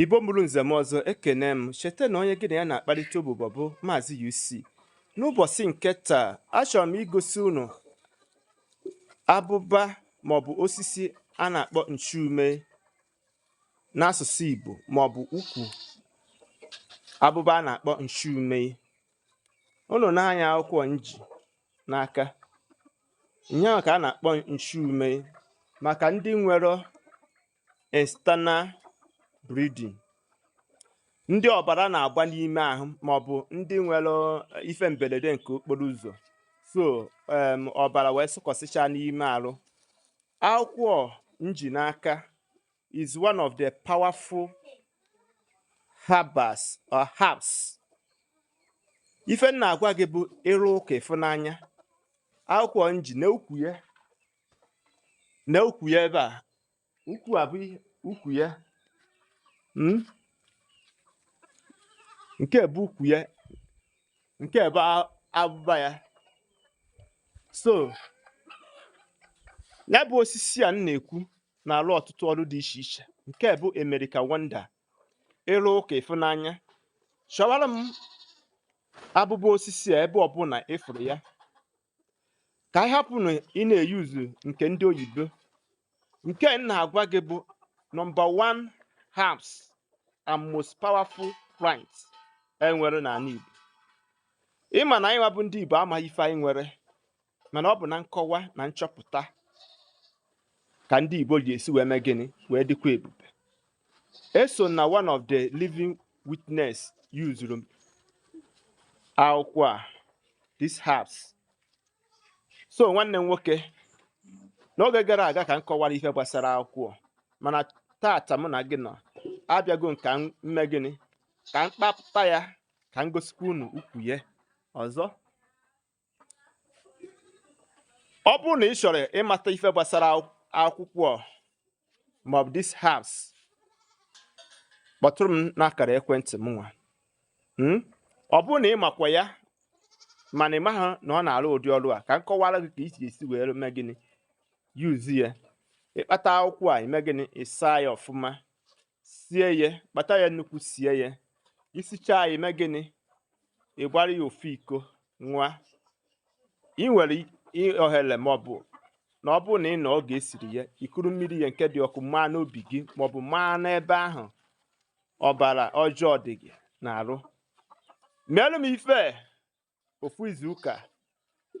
Igbo mụrụ nze mụọ ọzọ ekene m cheta na onye gị na ya na-akparịta ụbụbọ bụ Maazị UC n'ụbọchị nke taa achọrọ m igosi unu abụba maọbụ osisi a na-akpọ nchume n'asụsụ Igbo maọbụ ukwu abụba a na-akpọ nchume unu nee anya akwụkwọ m ji n'aka ihe ahụ ka a na-akpọ nchume maka ndị nwere external bleeding ndị ọbara na-agba n'ime ahụ ma ọ bụ ndị nwere eh, ife mberede nke okporo ụzọ so em, ọbara wee sụkọsịcha n'ime arụ akwụkwọ m ji n'aka is one of the powerful herbals or herbs ife m na-agwa gị bụ ị rụ ụka ị fụ n'anya akwụkwọ m ji na ukwu ya na ukwu ya ebe a ukwu a bụ ukwu ya hmm? nke a bụ ukwu ya nke a bụ abụba ya so ya bụ osisi a m na-ekwu na-alụ ọtụtụ ọrụ dị iche iche nke bụ America wonder ị rụ ụka ị fụ n'anya chọwara m abụba osisi a ebe ọbụla ị fụrụ ya ka anyị hapụnụ ịna-eyuzu nke ndị oyibo nke m na-agwa gị bụ nọmba 1 herbs and most powerful plants e nwere n'anị Igbo ị ma na anyị nwa bụ ndị Igbo amaghị ife anyị nwere mana ọ bụ na nkọwa na nchọpụta ka ndị Igbo ji esi wee mee gịnị wee dịkwa ebube eso m na one of the living witness yuzuru m akwụkwọ a this herbs so nwanne m nwoke n'oge gara aga ka m kọwara ife gbasara akwụkwọ mana tata mụ na gị nọ abịago m ka m mee gịnị ka m kpapụta ya ka m gosikwa unu ukwu ya ọzọ ọ bụrụ na ị chọrọ ịmata ife gbasara akwụkwọ maọbụ this herbs kpọtụrụ m n'akara ekwentị m nwa hmm? ọ bụrụ na ị makwa ya mana ị maghị na ọ na-alụ ụdị ọrụ a ka m kọwara gị ka i si esi wee mee gịnị yuzi ya ị kpata akwụkwọ a i mee gịnị ị saa ya ọfụma sie ya kpata ya nnukwu sie ya i sichaa ya i mee gịnị ị gbara ya ofu iko ṅụa ị nwere ohere ma ọ bụ na ọ bụrụ na ị nọ oge e siri ya i kuru mmiri ya nke dị ọkụ maa n'obi gị maọbụ maa n'ebe ahụ ọbara ọjọọ dị gị n'arụ meelụ m ife ofu izu ụka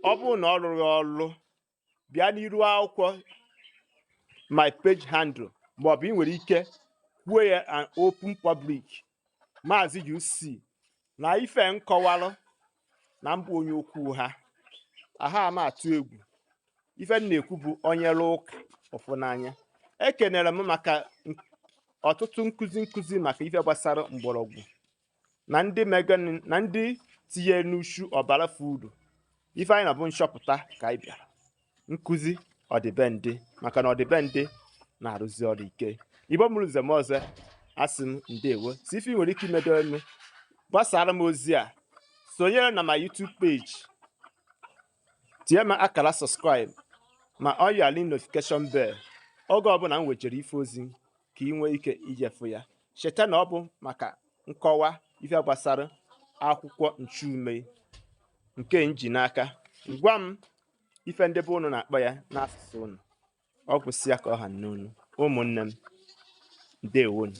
ọ bụrụ na ọ rụrọ ọrụ bịa n'iru akwụkwọ my page handle maọbụ ị nwere ike kwuo ya na open public maazị UC na ife m kọwalụ na mbụ onye okwu ha aha ama atụ egwu ife m na-ekwu bụ onye lụọ ụka ọ fụ n'anya ekenere m maka ọtụtụ nkụzi nkụzi maka ife gbasara mgbọrọgwụ na ndị na ndị tinyenụ uchu ọbara fudu ife anyị na bụ nchọpụta ka anyị bịara nkụzi ọdịbendị maka na ọdịbendị na-arụzi ọrụ ike Igbo mụrụ nze mụọ ọzọ asị m ndewo si ife ị nwere ike imedo eme gbasara m ozi a sonyere na my YouTube page tie m akara subscribe ma ọ yali notification bell oge ọbụla m wejere ife ozi ka ị nwee ike ije fụ ya cheta na ọ bụ maka nkọwa ife gbasara akwụkwọ nchume nke m ji n'aka gwa m ife ndị be unu na-akpọ ya n'asụsụ unu ọ gwụsịa ka ọ ha m n'ọnụ ụmụnne m ndewonu